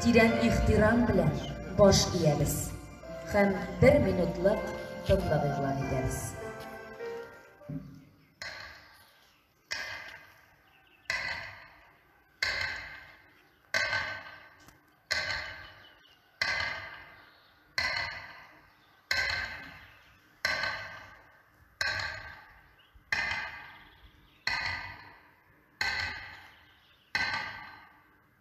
Тирән ихтирам белән баш иябез һәм бер минутлык тынлык игълан итәбез.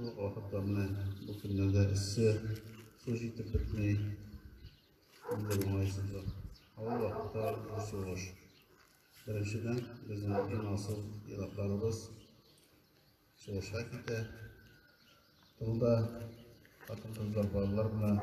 Вакытларны бу көннәрдә эссе су җитеп бетми. Инде уңайсызлык. Авыл вакытта зур сугыш. Беренчедән, безнең иң асыл елакларыбыз сугышка китә. Тылда хатын-кызлар, балалар белән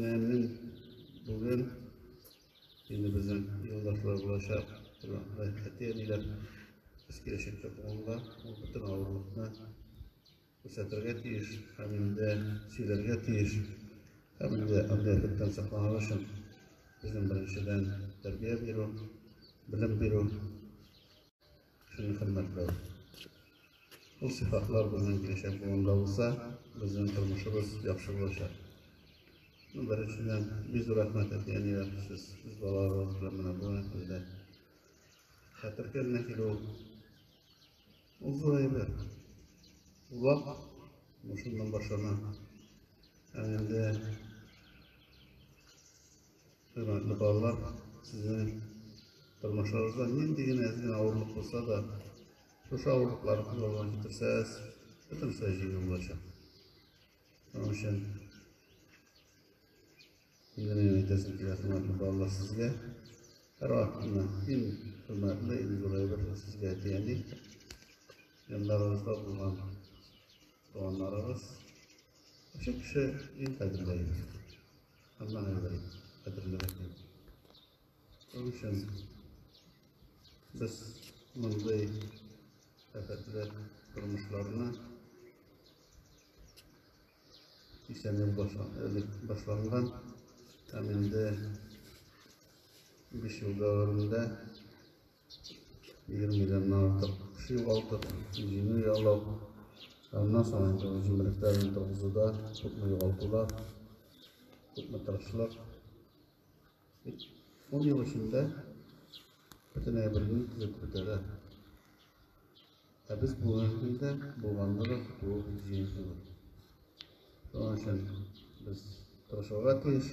Нәмен бүген инде безнең юлдашлар булачак, әти әниләр без киләчәктә туганда ул бөтен авырлыкны күрсәтергә тиеш һәм инде сөйләргә тиеш һәм инде андый әфәттән сакланыр өчен безнең беренчедән тәрбия бирү, белем бирү Сезнең хөрмәтле ул сыйфатлар безнең киләчәк буында булса, безнең тормышыбыз яхшы булачак. Ну, беренчедән, бик зур рәхмәт әти-әнигә сез үз балаларыгыз белән менә бу көндә хәтер көненә килү ул зур әйбер. Улак мушыннан башлана. Һәм инде Хөрмәтле балалар, сезнең тормышларыгызда нинди генә әз генә авырлык булса да, шушы авырлыклар күз алдына китерсәгез, бөтенесе җиңел булачак. Шуның өчен инде мин әйтәсем килә, хөрмәтле балалар, сезгә һәр вакытны иң хөрмәтле, иң зур әйбер сезгә әти-әни, яннарыгызда булган туганнарыгыз, кеше кеше иң кадерле әйбер. Алла аңлый, кадерле рәхим. Шуның өчен без мондый рәхәтле тормышларны исән ел башланган һәм инде биш ел дәвамында 1 миллионнан артык кеше югалттык, җиңү яулау. Аннан соң инде ул җимерекләрне торгызуда күпме югалтулар, күпме тырышлык. Ун ел эчендә бөтен әйберне төзеп бетерә. Ә без бүгенге көндә булганны да көтүе бик җиңелсез. Шуның өчен без тырышырга тиеш.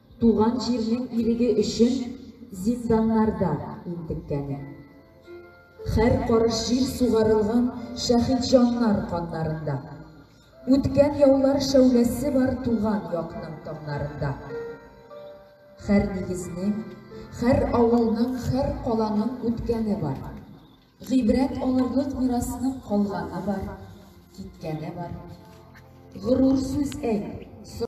Туган җирнең иреге өчен зинданнарда интеккәне. Хәр карыш җир сугарылган шәһидҗаннар каннарында. Үткән яулар шәүләсе бар туган якның таңнарында. Хәр нигезнең, хәр авылның, хәр каланың үткәне бар. Гыйбрәт алырлык мирасның калганы бар, киткәне бар. Горур сүз әйт, сорашып.